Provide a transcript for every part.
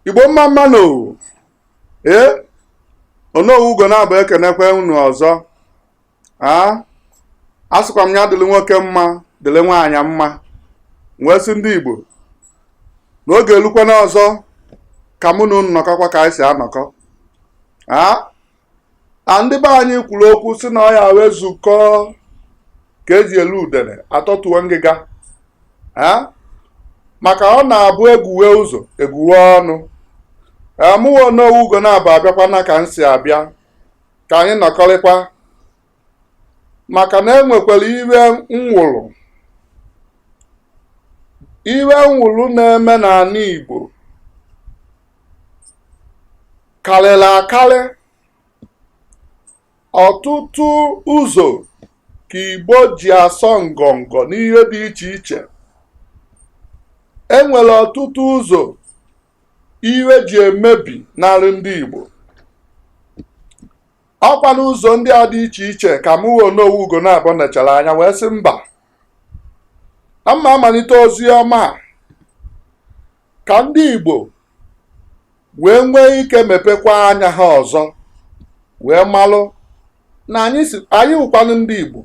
igbo mma mma nụ oo ee onowu ugonabọ ekenekwe unu ọzọ aa asịkwa m ya dịrị nwoke mma dịrị nwaanyị mma m wee sị ndị igbo na oge elukwana ọzọ ka mụ na unu nọkọkwa ka anyị si anọkọ aa na ndị be anyị kwuru okwu sị na ọya wee zukọọ ka eji eli udene atọtuo ngịga maka ọ na-abụ egwuwe ụzọ egwuwe ọnụ mụwa onowu ugonabọ abịakwana ka m si abịa ka anyị nọkọrịkwa maka na enwekwara ihe nwụrụ ihe nwụrụ na-eme n'ala Igbo karịrị akarị ọtụtụ ụzọ ka Igbo ji asọ ngọngọ n'ihe dị iche iche enwere ọtụtụ ụzọ ihe ji emebinarị ndị Igbo ọkwa n'ụzọ ndị a dị iche iche ka mụ onowu ugonabọ nechara anya wee sị mba na m ma-amalite ozi ọma a ka ndị Igbo wee nwee ike mepekwa anya ha ọzọ wee malụ na anyị wụkwanụ ndị Igbo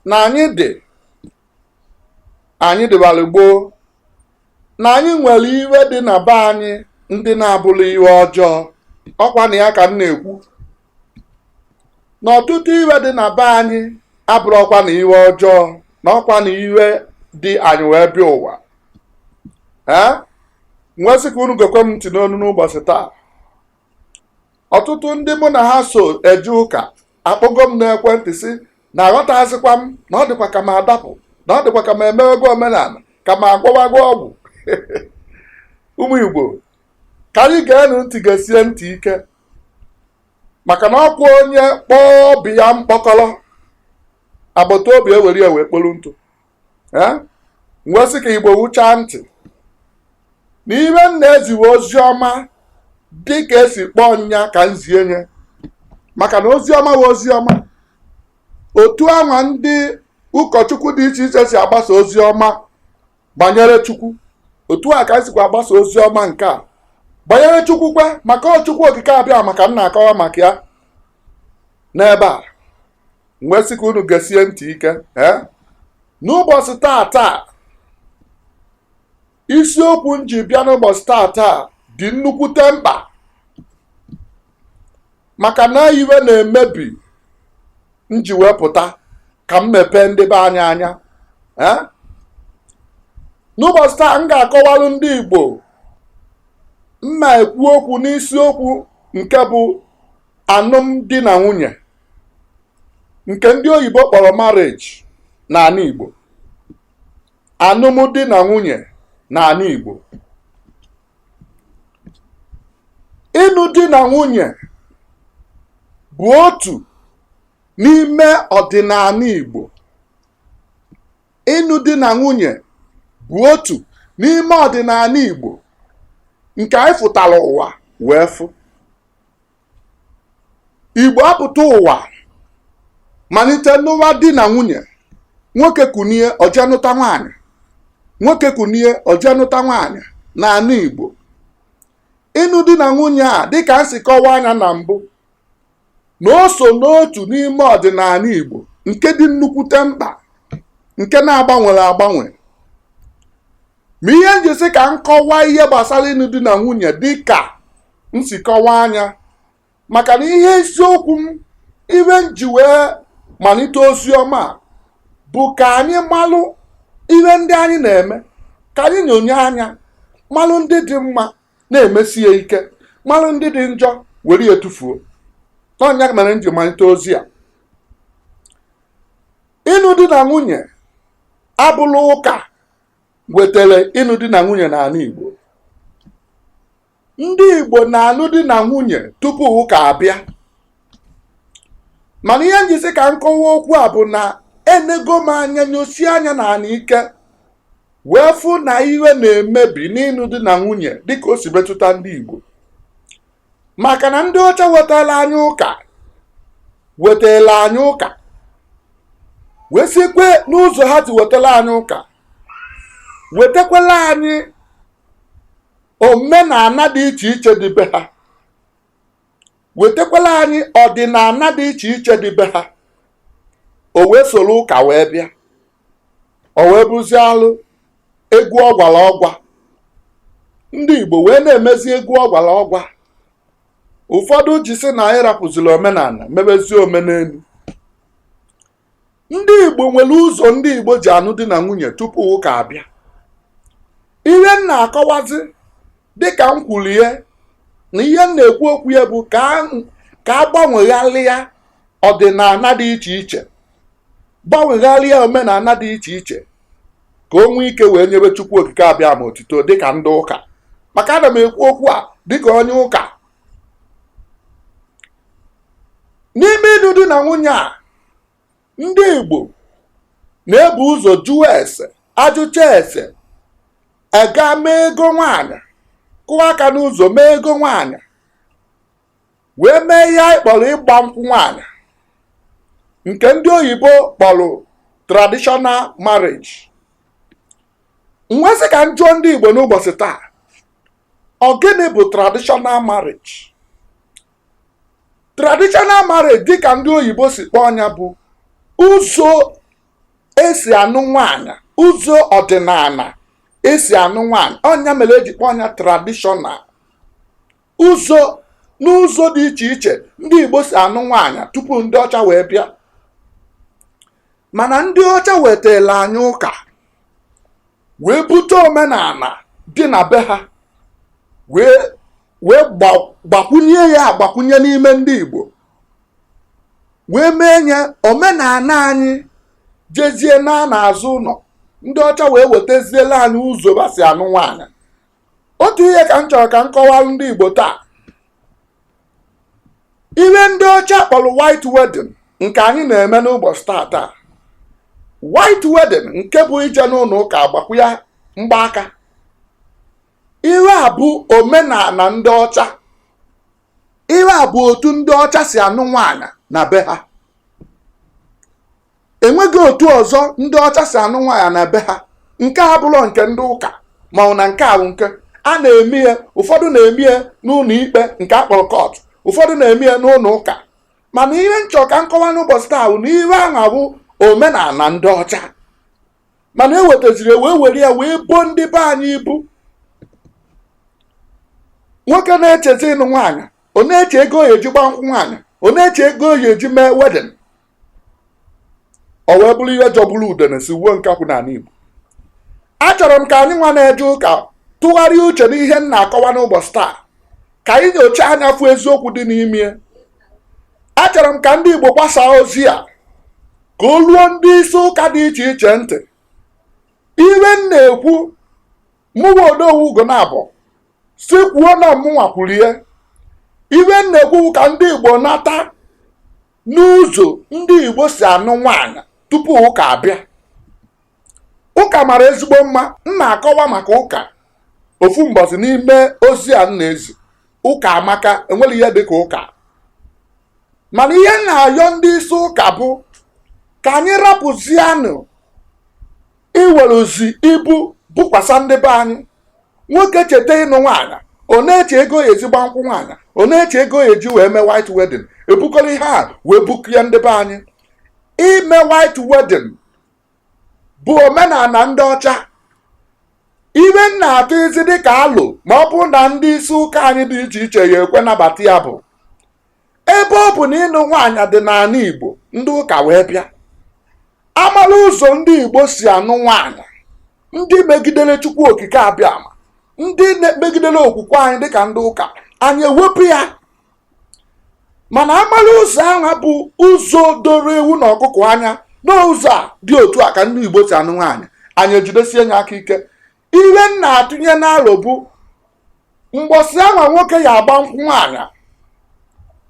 na anyị dị anyị dịbara gboo na anyị nwere ihe dị na be anyị ndị na-abụrọ ihe ọjọọ ọkwa na ya ka m na-ekwu na ọtụtụ ihe dị na be anyị abụrọkwanụ ihe ọjọọ na ọkwa na ihe dị anyị wee bịa ụwa ee m wee sị ka unu gekwe m ntị n'onu n'ụbọchị taa ọtụtụ ndị mụ na ha so eje ụka akpọgo m n'ekwentị sị na aghọtazikwa m na ọ dịkwa ka m adapụ na ọ dịkwa ka m emewego omenala ka m agwọwago ọgwụ ụmụ igbo ka anyị geenụ ntị gesie ntị ike maka na ọkwa onye kpọọ ọba ya mkpọkọrọ agbata obi ewere ya wee kpolu ntụ ee m wee sị ka igbo wuchaa ntị na ihe m na-ezi wụ ozi ọma dị ka esi kpọọ nya ka m zie nya maka na ozi ọma wụ ozi ọma otu anwa ndị ụkọchukwu dị iche iche si agbasa ozi ọma banyere chukwu otu a ka m sikwa agbasa ozi ọma nke a banyere chukwu kwa maka ọ chukwu okike abịama ka m na-akọwa maka ya n'ebe a wee sị ka unu gesie ntị ike ee n'ụbọchị taa taa isiokwu m ji bịa n'ụbọchị taa taa dị nnukwute mkpa maka na ihe na-emebi m ji wee pụta ka m mepee ndị be anyị anya ee n'ụbọchị taa m ga-akọwalụ ndị Igbo m na-ekwu okwu n'isiokwu nke bụ anụmdi na nwunye nke ndị oyibo kpọrọ marriage n'anị Igbo anụmdi na nwunye n'anị Igbo ịnụ di na nwunye bụ otu n'ime ọdịnanị Igbo ịnụ di na nwunye bụ otu n'ime ọdịnanị Igbo nke anyị fụtara ụwa wee fụ igbo apụta ụwa manite nụwa di na nwunye nwoke kunie o je nụta nwaanyị nwoke kunie o je nụta nwaanyị n'anị igbo ịnụ di na nwunye a dịka m si kọwaa anya na mbụ na o so n'otu n'ime ọdịnanị igbo nke dị nnukwute mkpa nke na-agbanwere agbanwe ma ihe m ji sị ka m kọwaa ihe gbasara ịnụ di na nwunye dị ka m si kọwaa anya maka na ihe isiokwu m ihe m ji wee manite ozi ọma a bụ ka anyị malụ ihe ndị anyị na-eme ka anyị nyonye anya malụ ndị dị mma na-emesi ya ike malụ ndị dị njọ were ya tufuo na ọ nya mere m ji manite ozi a ịnụ di na nwunye abụrọ ụka wetara ịnụ di na nwunye n'anị Igbo ndị Igbo na-anụ di na nwunye tupu ụka abịa mana ihe m ji sị ka m kọwaa okwu a bụ na enego m anya nyosie anya n'anị ike wee fụ na ihe na-emebi n'ịnụ di na nwunye dịka o si metụta ndị Igbo maka na ndị ọcha wetara anyị ụka wetara anyị ụka wee sikwe n'ụzọ ha si wetara anyị ụka wetakwala anyị omenana dị iche iche dị be ha wetakwala anyị ọdịnana dị iche iche dị be ha o wee soro ụka wee bịa o wee bụzie alụ egwu ọgwara ọgwa ndị Igbo wee na-emezi egwu ọgwara ọgwa ụfọdụ ji sị na anyị rapụziri omenana mebezie omenenu ndị Igbo nwere ụzọ ndị Igbo ji anụ di na nwunye tupu ụka abịa ihe m na-akọwazi dịka m kwuru ya na ihe m na-ekwu okwu ya bụ ka a- ka a gbanwegharịa ọdịnala dị iche iche gbanwegharịa omenala dị iche iche ka o nwee ike wee nyebe chukwu okike abịama otito dịka ndị ụka maka ana m ekwu okwu a dịka onye ụka n'ime ịnụ di na nwunye a ndị Igbo na-ebu ụzọ jụọ ese ajụcha ese ega mee ego nwaanyị kụọ aka n'ụzọ mee ego nwaanyị wee mee ihe anyị kpọrọ ịgba nkwụ nwaanyị nke ndị oyibo kpọrọ traditional marriage m wee sị ka m jụọ ndị Igbo n'ụbọchị taa ọ gịnị bụ traditional marriage traditional marriage dịka ndị oyibo si kpọọ nya bụ ụzọ esi anụ nwaanyị ụzọ ọdịnala esi anụ nwaanyị ọ nya mere eji kpọọ nya traditional ụzọ n'ụzọ dị iche iche ndị igbo si anụ nwaanyị tupu ndị ọcha wee bịa mana ndị ọcha wetara anyị ụka wee bute omenala dị na be ha wee wee gbakwunye ya agbakwunye n'ime ndị Igbo wee mee nye omenala anyị jezie na n'azụ ụlọ ndị ọcha wee wetaziela anyị ụzọ ba si anụ nwaanyị otu ihe ka m chọrọ ka m kọwalụ ndị Igbo taa ihe ndị ọcha kpọrọ white wedding nke anyị na-eme n'ụbọchị taa taa white wedding nke bụ ije n'ụlọ ụka agbakwu ya mgbaaka ihe a bụ omenala ndị ọcha ihe a bụ otu ndị ọcha si anụ nwaanyị na be ha enweghị otu ọzọ ndị ọcha si anụ nwaanyị na be ha nke a abụrọ nke ndị ụka mana nke ahụ nke a na-eme ya ụfọdụ na-eme ya n'ụlọ ikpe nke akpọrọ court ụfọdụ na-eme ya n'ụlọ ụka mana ihe m chọ ka m kọwaa n'ụbọchị taa bụ na ihe ahụ bụ omenala ndị ọcha mana ewetaziri e wee were ya wee bo ndị be anyị ibu nwoke na-echezi ịnụ nwaanyị ọ na-eche ego ọ ya-eji gba nkwụ nwaanyị ọ na-eche ego ọ ya-eji mee wedding o wee bụrụ ihe jọgburu udene sigbuo nkakwụ n'ala Igbo achọrọ m ka anyị nwa na-eje ụka tụgharịa uche n'ihe m na-akọwa n'ụbọchị taa ka anyị nyochaa nya fụ eziokwu dị n'ime achọrọ m ka ndị Igbo gbasaa ozi a ka o ruo ndị isi ụka dị iche iche ntị ihe m na-ekwu mụwa Odogwu Ugonabọ si kwuo na mụnwa kwurie ihe m na-ekwu ka ndị Igbo nata n'ụzọ ndị Igbo si anụ nwaanyị tupu ụka abịa ụka mara ezigbo mma m na-akọwa maka ụka ofu mbọsị n'ime ozi a m na-ezi ụka amaka enwerọ ihe dịka ụka mana ihe m na-ayọ ndị isi ụka bụ ka anyị rapụzianụ iweruzi ibu bukwasa ndị be anyị nwoke cheta ịnụ nwaanyị ọ na-eche ego ya eji gba nkwụ nwaanyị ọ na-eche ego ya eji wee mee white wedding ebukọrọ ihe a wee buku ya ndị be anyị ime white wedding bụ omenala ndị ọcha ihe m na-atụzi dịka alo ma ọ bụrụ na ndị isi ụka anyị dị iche iche ya-ekwe nabata ya bụ ebe ọ bụ na ịnụ nwaanyị dị n'ala igbo ndị ụka wee bịa amala ụzọ ndị igbo si anụ nwaanyị ndị megidere chukwu okike abịama ndị megidere okwukwe anyị dịka ndị ụka anyị ewepụ ya mana amala ụzọ ahụ bụ ụzọ doro ewu na ọkụkọ anya n'ụzọ a dị otu a ka ndị igbo si anụ nwaanyị anyị ejidesie nya aka ike ihe m na-atụnye n'alo bụ mgbọsị anwa nwoke ya-agba nkwụ nwaanyị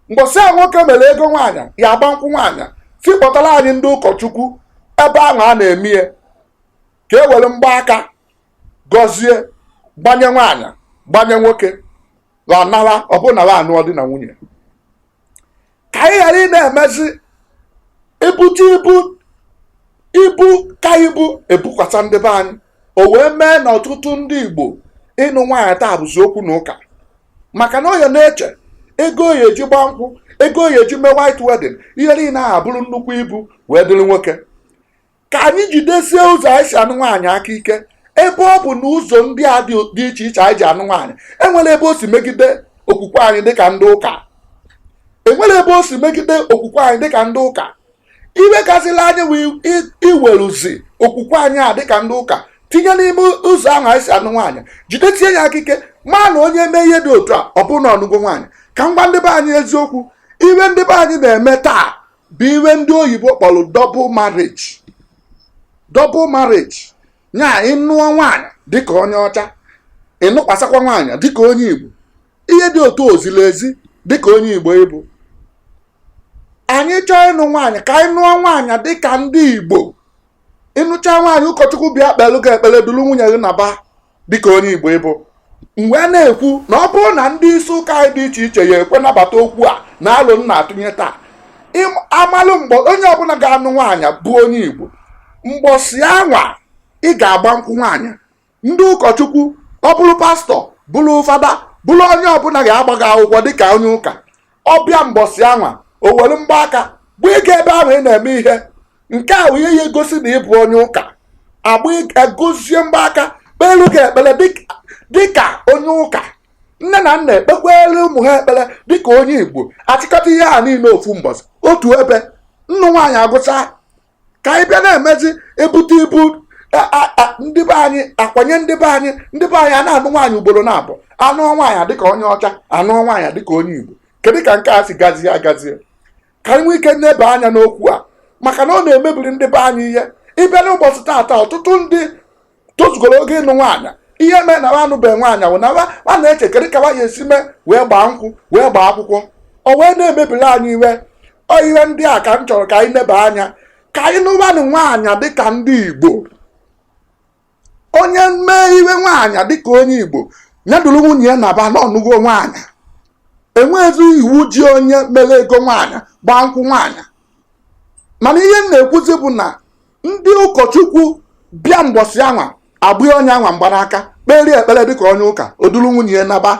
mgbọsị a nwoke mere ego nwaanyị ya-agba nkwụ nwaanyị sị kpọtara anyị ndị ụkọchukwu ebe anwa a na-eme ya ka e were mgbaaka gọzie gbanye nwaanyị gbanye nwoke ha nara ọ bụ na anụọ di na nwunye ka anyị ghara ị na-emezi ebute ibu ibu ka ibu ebukwasa ndị be anyị o wee mee na ọtụtụ ndị igbo ịnụ nwaanyị taa bụzi okwu na ụka maka na ọ ya na-eche ego ọ ya-eji gba nkwụ ego ọ ya-eji mee white wedding ihe niile ahụ abụrụ nnukwu ibu wee dịrị nwoke ka anyị jidesie ụzọ anyị si anụ nwaanyị aka ike ebe ọ bụ na ụzọ ndị a dị iche iche anyị ji anụ nwaanyị enwerọ ebe o si megide okwukwe anyị dịka ndị ụka enwerọ ebe o si megide okwukwe anyị dịka ndị ụka ihe kasịla anyị wee i- iweruzi okwukwe anyị a dịka ndị ụka tinye n'ime ụzọ ahụ anyị si anụ nwaanyị jidesie ya aka ike ma na onye mee ihe dị otu a ọ bụrụ na ọ nụgo nwaanyị ka m gwa ndị be anyị eziokwu ihe ndị be anyị na-eme taa bụ ihe ndị oyibo kpọrọ double marriage double marriage nya ị nụọ nwaanyị dịka onye ọcha ị nụkwasakwa nwaanyị dịka onye igbo ihe dị otu a ezilọ ezi dịka onye igbo ị bụ anyị chọọ ịnụ nwaanyị ka anyị nụọ nwaanyị dịka ndị igbo ị nụcha nwaanyị ụkọchukwu bịa kpelụ gị ekpere duru nwunye gị naba dịka onye Igbo ị bụ m wee na-ekwu na ọ bụrụ na ndị isi ụka anyị dị iche iche ya-ekwe nabata okwu a na alo m na-atụnye taa amalụ mgbe onye ọbụla ga-anụ nwaanyị bụ onye Igbo mgbọsi anwa ị ga-agba nkwụ nwaanyị ndị ụkọchukwu ọ bụrụ pastọ bụrụ fada bụrụ onye ọbụla ga-agba gị akwụkwọ dịka onye ụka ọ bịa mbọsị anwa o were mgbaaka gbanye gị ebe ahụ ị na-eme ihe nke a wụ ihe ya egosi na ị bụ onye ụka agba egozie mgbaaka kpelu gị ekpere dịk- dịka onye ụka nne na nna ekpekwere ụmụ ha ekpere dịka onye igbo achịkọta ihe a niile ofu mbọsị otu ebe ịnụ nwaanyị agụcha ka anyị bịa na-emezi ebute ibu ndị be anyị akwanye ndị be anyị ndị be anyị a na-anụ nwaanyị ugboro naabọ anụ nwaanyị dịka onye ọcha anụ nwaanyị dịka onye igbo kedu ka nke a si gazie agazie ka anyị nwee ike nebe anya n'okwu a maka na ọ na-emebiri ndị be anyị ihe ị bịa n'ụbọchị taata ọtụtụ ndị tozugoro oge ịnụ nwaanyị ihe mee na ha anụbeghị nwaanyị wụ na ha na-eche kedu ka ha ya esi mee wee gbaa nkwụ wee gbaa akwụkwọ o wee na-emebiri anyị ihe ọ ihe ndị a ka m chọrọ ka anyị neba anya ka anyị nụwanụ nwaanyị dịka ndị Igbo onye mee ihe nwaanyị dịka onye Igbo ya duru nwunye ya naba na ọ nụgo nwaanyị enweghịzi iwu ji onye mere ego nwaanyị gbaa nkwụ nwaanyị mana ihe m na-ekwuzi bụ na ndị ụkọchukwu bịa mbọsị anwa agbanye onye anwa mgbanaka kpere ekpere dịka onye ụka o duru nwunye ya naba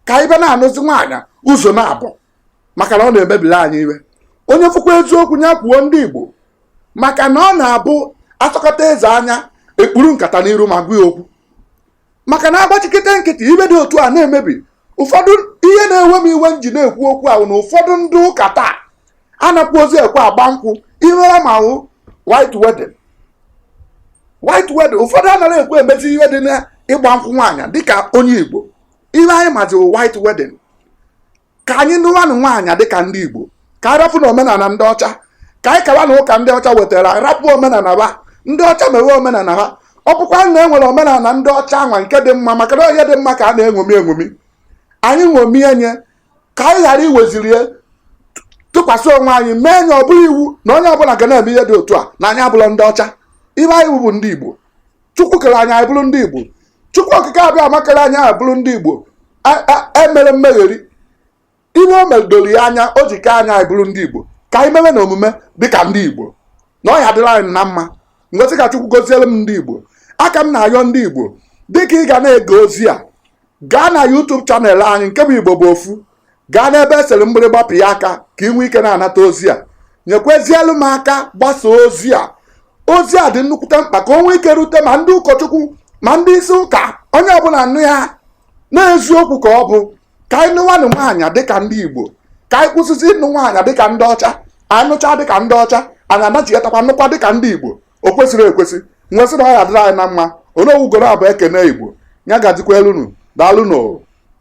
ka anyị be na-anụzi nwaanyị ụzọ naabọ maka na ọ na-emebiri anyị ihe onye fụkwa eziokwu ya kwuo ndị Igbo maka na ọ na-abụ asọkata eze anya ekpuru nkata n'iru ma gwa ya okwu maka na agbachikete nkịtị ihe dị otu a na-emebi ụfọdụ ihe na-ewe m iwe m ji na-ekwu okwu a wụ na ụfọdụ ndị ụka taa anakwọzi ekwe agba nkwụ ihe ha ma wụ white wedding white wedding ụfọdụ anaghị ekwe emezi ihe dị n'ịgba nkwụ nwaanyị dịka onye igbo ihe anyị mazi white wedding ka anyị nụwanụ nwaanyị dịka ndị Igbo ka anyị rapụnụ omenala ndị ọcha ka anyị kawanụ ụka ndị ọcha wetara rapụ omenala ha ndị ọcha mewe omenala ha ọ bụkwa na e nwere omenala ndị ọcha anwa nke dị mma maka na onye dị mma ka a na-enwomi enwomi anyị nwomie nye ka anyị ghara iweziri ya tụkwasị onwe anyị mee nye ọ bụrụ iwu na onye ọbụla ga na-eme ihe dị otu a na anyị abụrọ ndị ọcha ihe anyị wụ bụ ndị Igbo chukwu kere anyị anyị bụrụ ndị igbo chukwu okike abịama kere anyị anyị bụrụ ndị igbo A- a- emerọ mmegheri ihe o mere doro ya anya o ji kee anyị anyị bụrụ ndị igbo ka anyị mewenụ omume dịka ndị igbo na ọ ya adịrị anyị na mma m wee sị ka chukwu goziere m ndị igbo aka m na-ayọ ndị igbo dịka ị ga na-ege ozi a gaa na YouTube channel anyị nke bụ Igbo bụ ofu gaa n'ebe esere mgbịrịgba pịa aka ka ị nwee ike na-anata ozi a nyekwezielu m aka gbasa ozi a ozi a dị nnukwute mkpa ka o nwee ike rute ma ndị ụkọchukwu ma ndị isi ụka onye ọbụla nụ ya na eziokwu ka ọ bụ ka anyị nụwanụ nwaanyị dịka ndị Igbo ka anyị kwụsịzi ịnụ nwaanyị dịka ndị ọcha anyị nụcha dịka ndị ọcha anyị anachighatakwa nụkwa dịka ndị Igbo o kwesịrọ ekwesị m wee sị na ọ ya adịrị anyị na mma onye owugoro abụ ekene igbo ya gazikwelu unu daalụ nụ o